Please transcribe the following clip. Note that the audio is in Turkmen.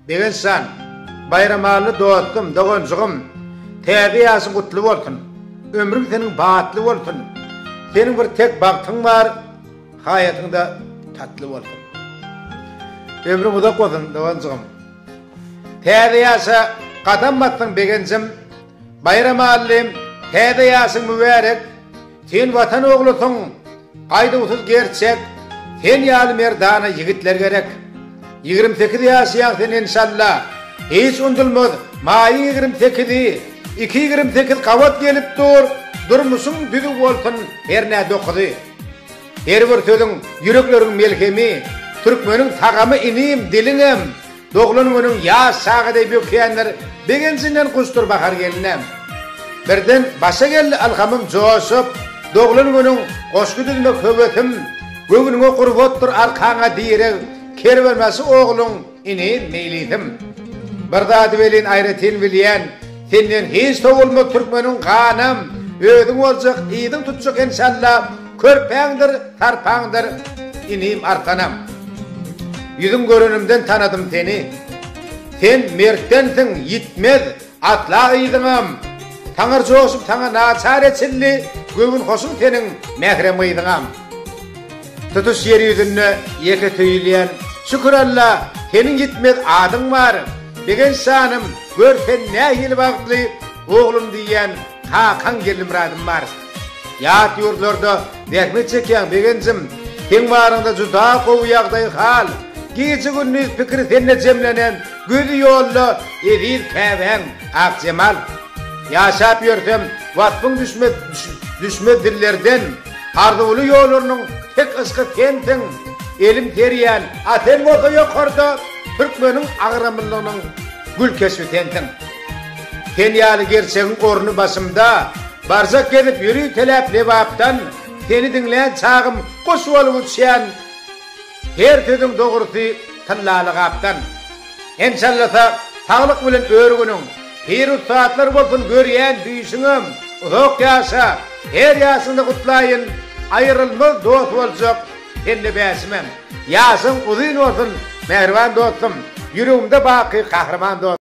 Begençjan, Baýramally dostum, doganjygym, täze ýaşyň gutly bolsun! Ömrüň seniň batly bolsun! Seniň bir tek bagtyň bar, haýatyň-da tatly bolsun! Ömrüň uzak bolsun, doganjygym! Täze ýaşa gadam basdyň, Begenjim! Baýramallym, täze ýaşyň mübärek! Sen Watan oglusyň, gaýduwsyz gerçek, sen ýaly merdana ýigitler gerek. Ýigrimi sekiz ýaşaýaň sen enşalla, hiç unudylmaz, maýyň ýigrimi sekizi, iki ýigrimi sekiz gabat gelip dur, durmuşyň düzüw bolsun hernä dokuzy. Her bir sözüň ýürekleriň melhemi, türkmeniň tagamy inim diliňem, Doglan günüň ýaş çaga deý bökýänler begenjinden guşdur bahar gelne. Birden başa geldi ylhamym joşup, doglan günüň goşgy düzmek höwesim, göwnüňe gurbatdyr arkaňa direg, kerwenbaşy ogluň ini meýlisim. Bir zady welin aýratyn bilýän, senden hiç sowulmaz türkmeniň ganam, özüň boljak, yzyň tutjak enşalla, Körpäňdir, sarpaňdyr, inim arkanam. Ýüzüň görenimden tanadym seni. Sen mertdensiň, ýitmez, atla yzyňam. Taňar joşup saňa naçar eçildi, göwün hoşuň seniň, mährem yzyňam. Tutuş ýer ýüzünde ýeke söýülýän, şükür Alla, seniň ýitmez adyň bar. Begenç janym, gör sen nähili bagtly, oglum diýýän kakaň Gellimyradym bar. Ýat ýurtlarda zähmet çekýäň begenjim, seň baryňda juda gowy ýagdaý hal, gije gündiz pikiri sende jemlenen gözi ýolda eziz käbäň Akjemal. Ýaşap ýörsem waspyň düşmez düşmez dillerden, arzuwly ýollarynyň tek yşky sensiň, elim serýän a sen bolsa ýokarda türkmeniň agramlylygynyň gül keşbi sensiň. Sen ýaly gerçegiň orny başymda Barjak gezip ýöri teläp Lebapdan Seni diňlän çagym guş bolup uçýan Her sözüň dogrusy tyllaly gapdan Enşallasa saglyk bilen ör günüň Pir ussatlar bolsun görýän düýşüňem Uzak ýaşa her ýaşyňda gutlaýyn Aýrylmaz dost boljak sende bäşimem Ýaşyň uzyn bolsun mähriban dostum Ýüregimde baky gahryman dostum.